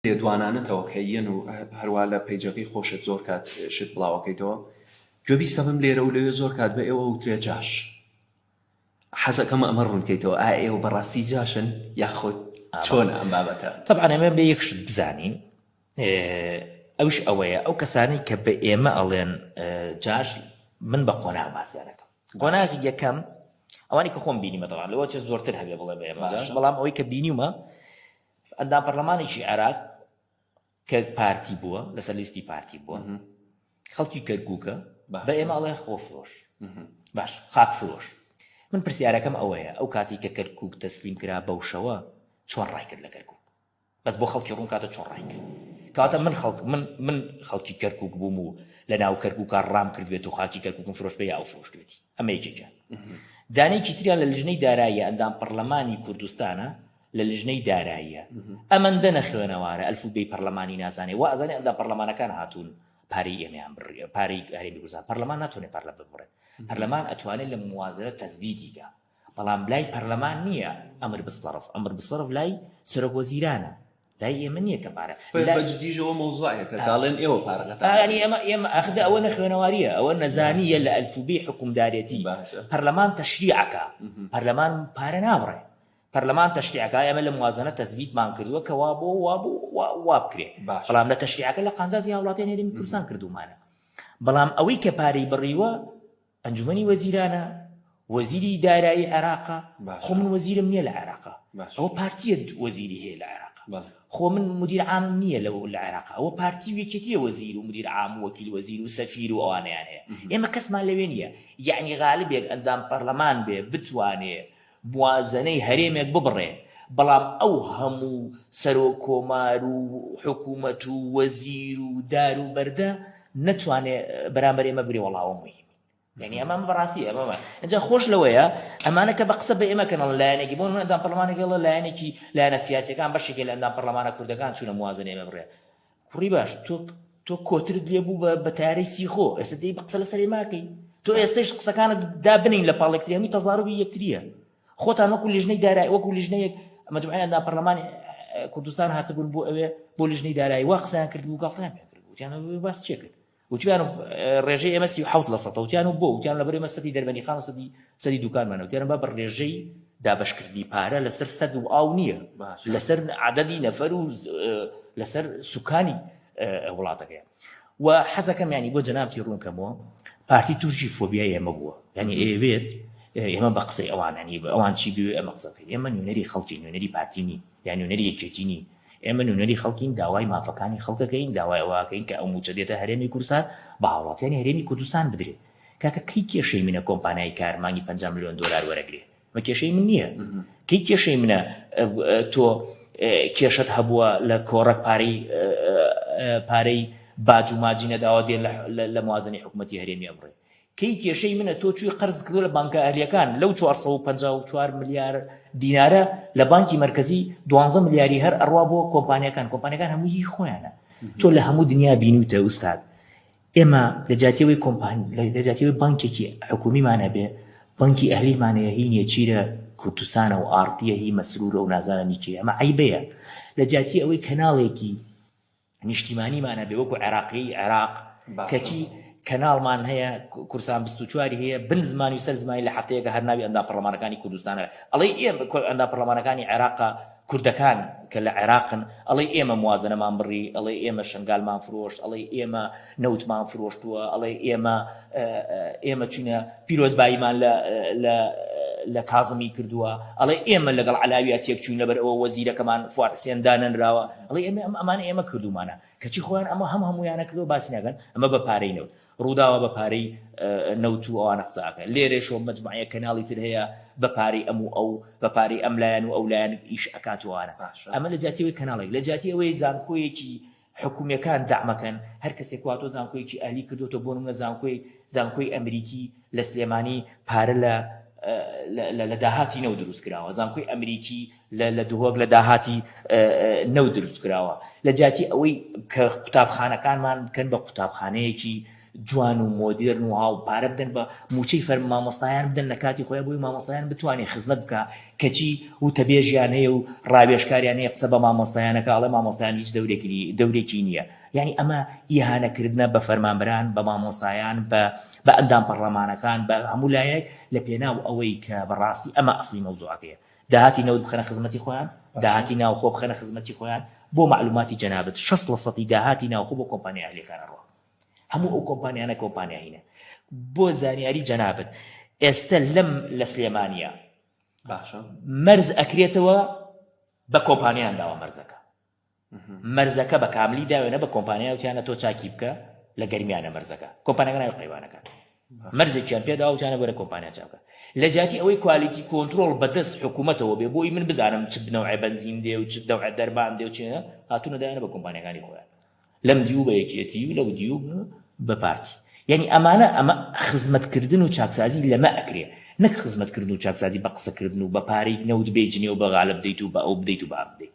لێدوانانەتەوە کە یەن و هەروا لە پەیجەکەی خۆشت زۆر کات شت بڵاوەکەیتەوە گوێبیستە بم لێرە و لەوێ زۆر کات بە ئێوە وترێ جاش حەزەکەم ئەمە ڕوونکەیتەوە ئا ئێوە بەڕاستی جاشن یاخۆت چۆن ئەم بابەتە طبعا ئەمە بە یەک شت بزانین ئەوش ئەوەیە ئەو کەسانەی کە بە ئێمە ئەڵێن جاش من بە قۆناغ باسیانەکەم قۆناغی یەکەم ئەوانی کە خۆم بینیمە دەڵان لەوە چ زۆرتر هەبێ بڵێ بە ئێمە بەڵام ئەوەی کە بینیمە ئەندام پەرلەمانێکی عێراق کە پارتی بووە لەسەر لیستی پارتی بووە خەڵکی کەرکووکە بە ئێمە ئەڵێ خۆفرۆش باش خاک فرۆش من پرسیارەکەم ئەوەیە ئەو کاتی کە کەرکووک تەسلیم کرا بەوشەوە چۆن ڕایکرد لە کەرکووک بەس بۆ خەڵکی ڕوون کاتە چۆن ڕایکرد کاتە من خەڵک من من خەڵکی کەرکک بووم و لە ناو کەرکک ڕام کردوێت و خاکی کەرککم فرۆش بێ ئەو فرۆشتێتی ئەمە یەکێکە دانێکی تریان لە لژنەی دارایی ئەندام پەرلەمانی کوردستانە لە لجنەی داراییە ئەمەندە نەخوێنەوارە ئەلفوبێی پەرلەمانی نازانێ وا ئەزانێ ئەندا پەرلەمانەکان هاتوون پارەی ئێمەیان بڕیە پارەی هەرێمی کوردستان پەرلەمان ناتوانێت پەر لە ببڕێت پەرلەمان ئەتوانێت لە موازنە تەزبیدیکە بەڵام لای پەرلەمان نییە ئەمر بسەرف ئەمر بسەرف لای سەرۆک وەزیرانە لای ئێمە نییە کە پارە بەجدیژەوە مۆزوعەیە کە داڵێن ئێوە پارەکەتانی ئێمە ئێمە ئەخدا ئەوە نەخوێنەواریە ئەوە نەزانیە لە ئەلفوبی حکومدارێتی پەرلەمان تەشریعەکە پەرلەمان پارە ناوڕێ پەرلەمان تەشریع ئەکا ئێمە لە موازەنە تەسبیتمان کردووە کە وا بۆ وا بۆ وا بکرێ بەڵام لە تەشریعەکە لە قانزازی هاوڵاتیان هێرمی کوردستان کردومانە بەڵام ئەوەی کە پارەی بڕیوە ئەنجومنی وەزیرانە وەزیری دارایی عێراقا خۆ من وەزیرم نییە لە عێراقا ئەوە پارتیە وەزیری هەیە لە عێراق خۆ من مدیر عام نییە لە لە عێراق ئەوە پارتی وێکێتیە وەزیر و مدیر عام وەکیل وەزیر و سەفیر و ئەوانیان هەیە ئێمە کەسمان لەوێ نییە یعنی غالبێک ئەندام پەرلەمان بێ بتوانێ موازەنەی هەرێمێک ببڕێ، بەڵام ئەو هەموو سەرۆک کۆمار و حکوومەت و وەزیر و دار و بەردە نەتوانێ بەرامبەر ئێمە بگرێ وەڵا ئەوە موهیمین. یانی ئەمە ئەمە بەڕاستی ئەمە ئەمە ئەجا خۆش لەوەیە ئەمانە کە بە قسە بە ئێمە کەنەڵ لایەنێکی بۆ نموونە ئەندام پەڕڵەمانێک ئەڵێ لایەنێکی لایەنە سیاسیەکان بەشێکێ لە ئەندام پەڕڵەمانە کوردەکان چوونە موازەنەی ئێمە بڕێ کوڕی باش تۆ تۆ کۆترت لێ بوو بە تارەی سیخۆ ئێستا دەی قسە لە سەرێ ماکەی تۆ ئێستش قسەکانت دابنین لە پاڵێکتریانی تەزاربی یەکتریە خۆتان وەکو لیژنەی دارای وەکو لیژنەیەک ئەمە دوعیان دا پەرلەمانی کوردستان هاتبوون بۆ ئەوێ بۆ لیژنەی دارایی وا قسەیان کرد بوو گەڵتیان پێ کرد بوو باس چێ کرد وتیان ڕێژەی ئێمە سی حوت لە سەدە وتیان و بۆ وتیان لەبەر ئێمە سەدی دەربەنی خان سەدی سەدی دوکانمانە وتیان با بە ڕێژەی دابشکردنی پارە لەسەر سەد و ئاو نییە لەسەر عادەدی نەفەر و لەسەر سوکانی وڵاتەکەیان و حەزەکەم ینی بۆ جەنابتی ڕوونکەمەوە پارتی تووشی فۆبیای ئێمە بووە ینی ئەوێت ئێمە بە قسەی ئەوانانی بە ئەوان چی بوێ ئەمە قسەکەین ئێمە نوێنەری خەڵکی نوێنەری پارتی نین یان نوێنەری یەکێتی نین ئێمە نوێنەری خەڵکین، داوای مافەکانی خەڵکەکەین، داوای ئەوە ئەکەین کە ئەو مووچە دێتە هەرێمی کوردستان بە هاوڵاتیانی هەرێمی کوردستان بدرێ. کاکە کەی کێشەی منە کۆمپانیای کار مانگی پەنجا ملیۆن دۆلار وەرەگرێ؟ مە کێشەی من نییە؟ کەی کێشەی منە تۆ کێشەت هەبووە لە کۆڕەک پارەی پارەی باج و ماجی نەداوە دێ لە موازنەی حکوومەتی هەرێمی ئەبڕێ؟ کەی کێشەی منە تۆ چوی قەرز کردوە لە بانکە ئەهلیەکان لەو 454 ملیار دینارە لە بانکی مرکزی 12 ملیاری هەر ئەڕوا بۆ کۆمپانیەکان کۆمپانیەکان هەموو هی خۆیانە تۆ لە هەموو دنیا بینوتە ئوستاد ئێمە لەجاتیەوەی کۆمپانی لەجاتیەوەی بانکێکی حکومیمانە بێ بانکی ئەهلیمانەیە هی نێچیرە کوردستانە و ئارتیە هی مەسرورە و نازانانی چی ئەمە عیبەیە لە جاتی ئەوەی کەناڵێکی نیشتیمانیمانە بێ وەکو عێراقیی عێراق کەچی کەناڵمان هەیە کورسان بستوچواری هەیە بن زمانی سەر زمانی لە هەفتەیەکە هەر ناوی ئەندا پەرلەمانەکانی کوردستانە ئەڵی ئێم ئەندا پەرلەمانەکانی عێراقا کوردەکان کە لە عێراقن ئەڵی ئێمە موازنەمان بڕی ئەڵێ ئێمە شنگالمان فرۆشت ئەڵی ئێمە نەوتمان فرۆشتووە ئەڵێ ئێمە ئێمە چونە پیرۆزباییمان لە کازمی کردووە ئەڵێ ئێمە لەگەڵ علاویا تێک چوین لەبەر ئەوە وەزیرەکەمان فوات حسێن دانەنراوە ئەڵێ ئێمە ئەم ئەمان ئێمە کردومانە کەچی خۆیان ئەمە هەم هەمویانە کردو باسی ناگەن ئەمە بە پارەی نەوت ڕووداوە بە پارەی نەوت و ئەوانە قساکە لێرێشۆ مجموعەیە کەناڵی تر هەیە بە پارەی ئەم و ئەو بە پارەی ئەم لایەن و ئەو لایەن ئیش ئەکاتوانە ئەمە لە جاتیەوەی کەناڵێک لە جاتی ئەوەی زانکۆیەکی حکومیەکان دەعمەکەن هەرکەسێک واتۆ زانکۆیەکی ئەهلی کردوەوە بۆ نمونە زانکۆی زانکۆی ئەمریکی لە سلێمانی پارە لە لە داهاتی نەو دروست کراوە زانکۆی ئەمریکی لە دهۆک لە داهاتی نەو دروست کراوە لە جاتی ئەوەی کە قوتابخانەکانمان بکەن بە قوتابخانەیەکی جوان و مۆدێرن و هاو پارە بدەن بە موچەی فەرم مامۆستایان بدەن لە کاتی خۆی بووی مامۆستایان بتوانێت خزمەت بکە کەچی وتەبێژیان هەیە و ڕاوێشکاریان هەیە قسە بە مامۆستایانەکە ئەڵێ مامۆستایان هیچ دەورێکی دەورێکی نییە یعنی ئەمە ئیهانەکردە بە فەرمانبران بە مامۆستایان بە بە ئەندام پەڕلەمانەکان بە هەموو لایەک لە پێناو ئەوەی کە بەڕاستی ئەمە ئەفلی مەوزوعەکەیە داهاتی نەوت بخەنە خزمەتی خۆیان داهاتی ناوخۆ بخەنە خزمەتی خۆیان بۆ معلوماتی جەنابەت 60 لە سەدی داهاتی ناوخۆ بۆ کۆمپانیا ئەهلیەکان ئەڕوا هەموو ئەو کۆمپانیانە کۆمپانیا هینە بۆ زانیاری جەنابت ئێستا لەم لە سلێمانە باشە مەرز ئەکرێتەوە بە کۆمپانیان داوە مەرزەکە مەرزەکە بە کاملی داوێنە بە کۆمپانیا وتیانە تۆ چاکی بکە لە گەرمیانە مەرزەکە کۆمپانەکە ناوی قەیوانەکان مەرزێکیان پێدا وتیانە بەرە کۆمپانیا چاکە لە جاتی ئەوەی کوالیتی کۆنتترۆل بەدەست حکوومەتەوە بێ بۆی من بزانم چ بنەوە بنزین دێ و چ دەوە دەربان دێ و چێە هاتوونەدایانە بە کۆمپانیەکانی خۆیان لەم دیو بە یەکێتی و لەو دیو بە پارتی یانی ئەمانە ئەمە خزمەت کردن و چاکسازی لەمە ئەکرێ نەک خزمەت کردن و چاکسازی بە قسە کردن و بە پارەی نەوت بێی جنێو بە غالە بدەیت و بە ئەو بدەیت و بە ئەم بدەیت.